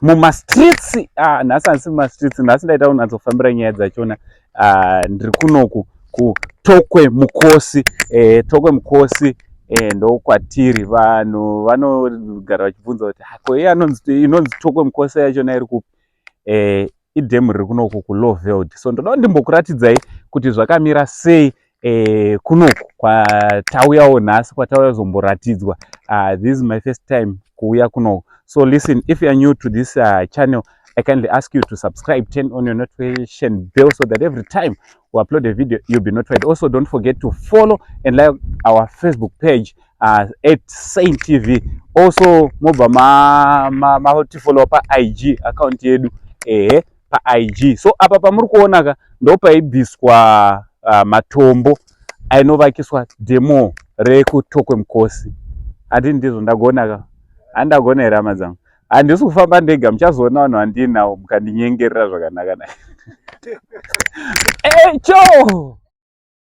mumastreets ah, nhasi handisi mumastreets nhasi ndaita kunatsofambira nyaya dzachona ah, ndiri kunoku kutokwe mukosi eh, tokwe mukosi eh, ndokwatiri vanhu vanogara vachibvunza kuti hako ah, iye inonzi tokwe mukosi yachona iri kupi eh, idhemu riri kunoku kuloveld so ndoda ndimbokuratidzai kuti zvakamira sei eh, kunoku kwatauyawo nhasi kwatauya zomboratidzwa uh, this is my first time kuuya kunoku so listen if youare new to this uh, channel i kindly ask you to subscribe turn on your notification bell so that every time we upload a video you'll be notified also don't forget to follow and like our facebook page uh, at saint tv also mobva matifollowa ma, ma, ma paig account yedu ehe eh, paig so apa pamuri kuona ka ndopaibviswa uh, matombo ainovakiswa demo rekutokwe mukosi ati ndizvo ndagona ka handagona here hama dzangu handisi kufamba ndega muchazoona vanhu vandiinawo mukandinyengerera zvakanaka na echo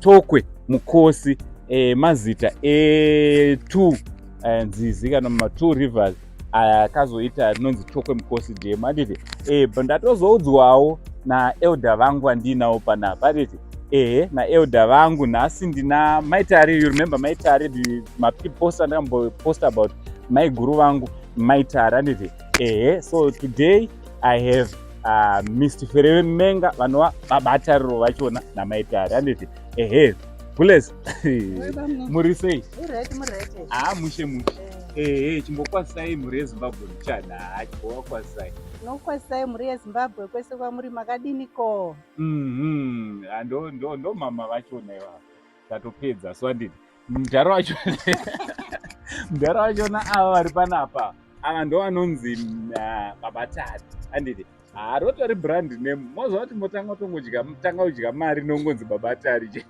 tokwe mukosi e, mazita etwo e, nzizi kana matwo rivers akazoita rinonzi tokwe mukosi dam anditi e, ndatozoudzwawo naelder vangu vandiinawo panapa anditi ehe naelder vangu nhasi ndina maitari you remember maitari mapiposta ndakamboposta about maiguru vangu maitari anditi ehe so today i have uh, mist fereve menga vanova babatariro vachona namaitari anditi ehe bules muri sei haa ah, mushe mushe eh. ehe chimbokwasai mhuri yezimbabwe muchana haa chimbowakwasai nokwasai mhuri yezimbabwe kwese kwamuri makadini ko mhm. ah, ndo mama vachona ivavo tatopedza so andini mudhara wacho mudhara wachona ava vari panapa ava ndo vanonzi uh, baba tari anditi haa rotori brand name mozva kuti motanga tongodya tanga kudya mari nongonzi baba tari che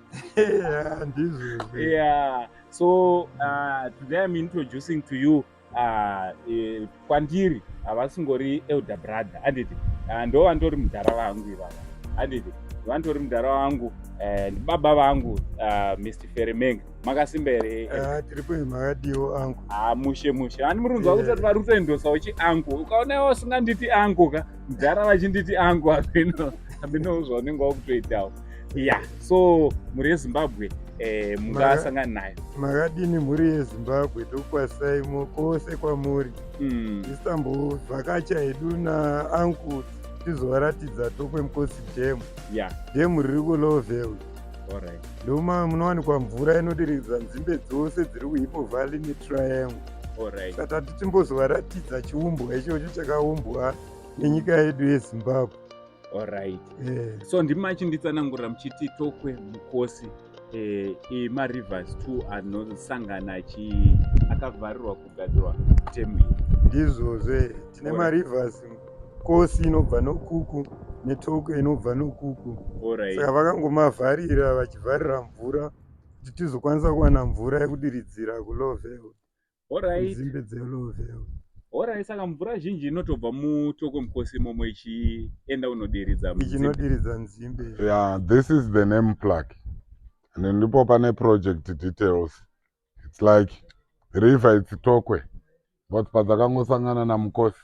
yeah so uh, today im introducing to you Ah, eh, kwandiri havasingori elder brother handiti ah, ndo vandori mudhara vangu ivava handiti vandori mudhara vangu eh, ndibaba vangu ah, mr feremeng makasimba here eh, Ah, tiri kwenyu makadiwo angu ah, mushe mushe ani murunzi Yeah. vakutoti vari kutoendosa uchi angu ukaona iwe usinganditi angu ka mudhara vachinditi angu ameno ameno zvaunenge wakutoitawo ya so mhuri yezimbabwe eh, mungasangana nayo makadini mhuri yezimbabwe tokwasai kwose kwamuri mm. isambovhakacha hedu naanku tizovaratidza tokwe mukosi dhemu yeah. dhemu riri kulovel ndoma munowanikwa mvura inodiridza nzimbe dzose dziri kuhipo valley netriangle saka tati timbozovaratidza chiumbwa ichocho chakaumbwa nenyika yedu yezimbabwe Alright. Eh. So ndimi machinditsanangurira muchiti tokwe mukosi eh, eh, marivers two anosangana achi akavharirwa kugadzirwa temu iyi. Ndizvozvo eh, tine Alright. marivers kosi inobva nokuku netokwe inobva nokuku Alright. saka vakangomavharira vachivharira mvura kuti tizokwanisa kuwana mvura yekudiridzira kulow level dzimbe dzelovheo horai saka mvura zhinji inotobva mutoko mukosi imomo ichienda unodiridza ichinotiridza nzimbe ya this is the name plug and ndipo pane project details its like river its tokwe but padzakangosangana namukosi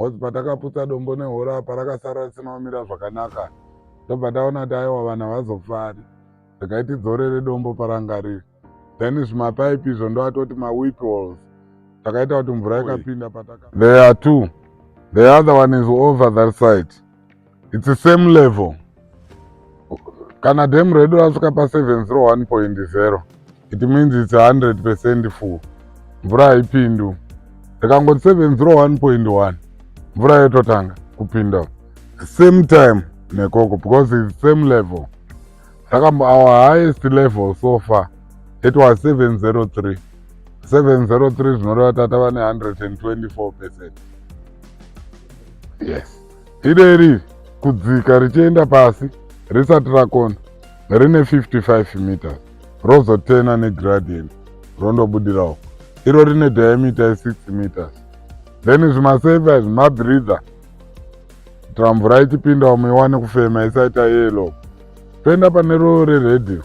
Ngozi patakaputsa dombo nehora apa rakasara risina kumira zvakanaka ndobva taona kuti aiwa vanhu havazofari regai tidzorere dombo paranga riri then zvimapaipi izvo ndoatoti mawip walls takaita kuti mvura ikapinda pataka there are two the other one is over that side its the same level kana dam redu rasvika pa 701.0 it means its 100 percent full mvura haipindu ikangoti 701.1 mvura yototanga kupinda same time nekoko because its same level saka our highest level so far it was 703 703 zvinoreva tatava ne 124 percent yes Ideri kudzika richienda pasi risati rakona rine 55 meters rozotena negradient rondobudira uko iro rine diameter ye6 meters then zvimaseva izvi mabreather kuitira mvura ichipinda umwe iwane kufema isaita yelo toenda pane roo reredhiyo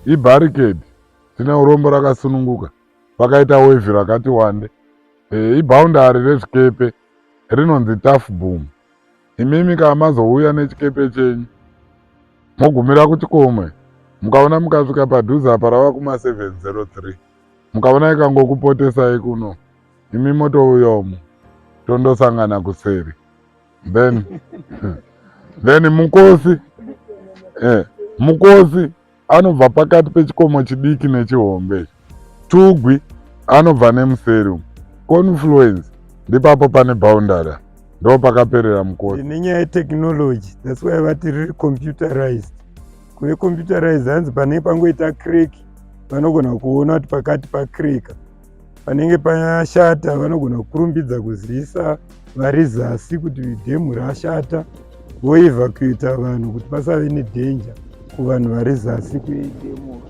ibarricade tine urombo rakasununguka pakaita wevhi rakati wande e, iboundary rezvikepe rinonzi Tough Boom. Imimi kana mazouya nechikepe chenyu mogumira kuchikomwe mukaona mukasvika padhuze apa rava kuma 703 mukaona ikangokupotesai kuno imi motouya umu tondosangana kuseri then then mukosi eh, mukosi anobva pakati pechikomo chidiki nechihombe tugwi anobva nemuseri umu confluence ndipapo pane boundary ndo pakaperera mukoti nenyaya yetechnology thats why vati riri computerized kuve computerized hanzi pane pangoita crack vanogona kuona kuti pakati pacreka panenge pashata vanogona kukurumbidza kuzivisa vari zasi kuti dhemu rashata voevakuita vanhu kuti pasave nedhenja kuvanhu vari zasi kuedhemu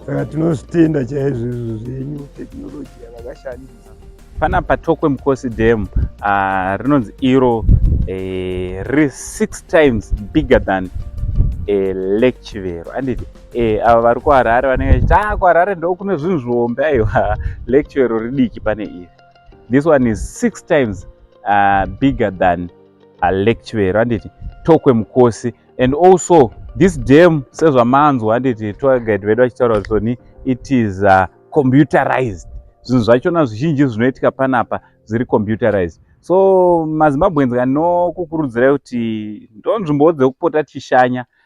saka tinozvitenda chaizvo izvo zvenyu tekinoloji yavakashandisa panapa tokwe mukosi dhemu ah, rinonzi iro eh, riri six times bigger than eh, lake chivero anditi Eh, ava vari kuharare vanenge vachiti ah kuharare ndo kune zvinhu zvihombe aiwa lecture iro ridiki pane iri this one is six times uh, bigger than a lecture iro handiti tokwe mukosi and also this dam sezvamanzwa handiti tour guide vedu vachitaura kuti soni it is uh, computerized zvinhu zvachona zvizhinji zvinoitika panapa zviri computerized so mazimbabweans kanokukurudzirai kuti ndonzvimbowo dzekupota tichishanya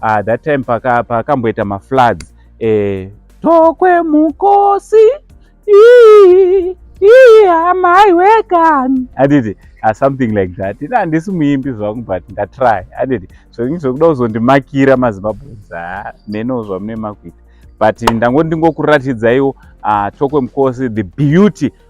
ah, that time pakamboita paka mafloods eh, tokwe mukosi amaiwekani anditi ah, something like that ina handisi muimbi zvangu but ndatry anditi zvainge zvokuda kuzondimakira mazimbabweans ah, neno zvamune makuita but ndangoti ndingokuratidzaiwo uh, tokwe mukosi the beauty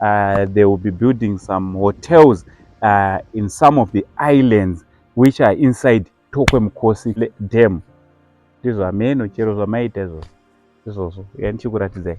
uh, they will be building some hotels uh, in some of the islands which are inside tokwe mukosi dam ndizvo hameno chero zvamaita izvozvo izvozvo yanichikuratidzai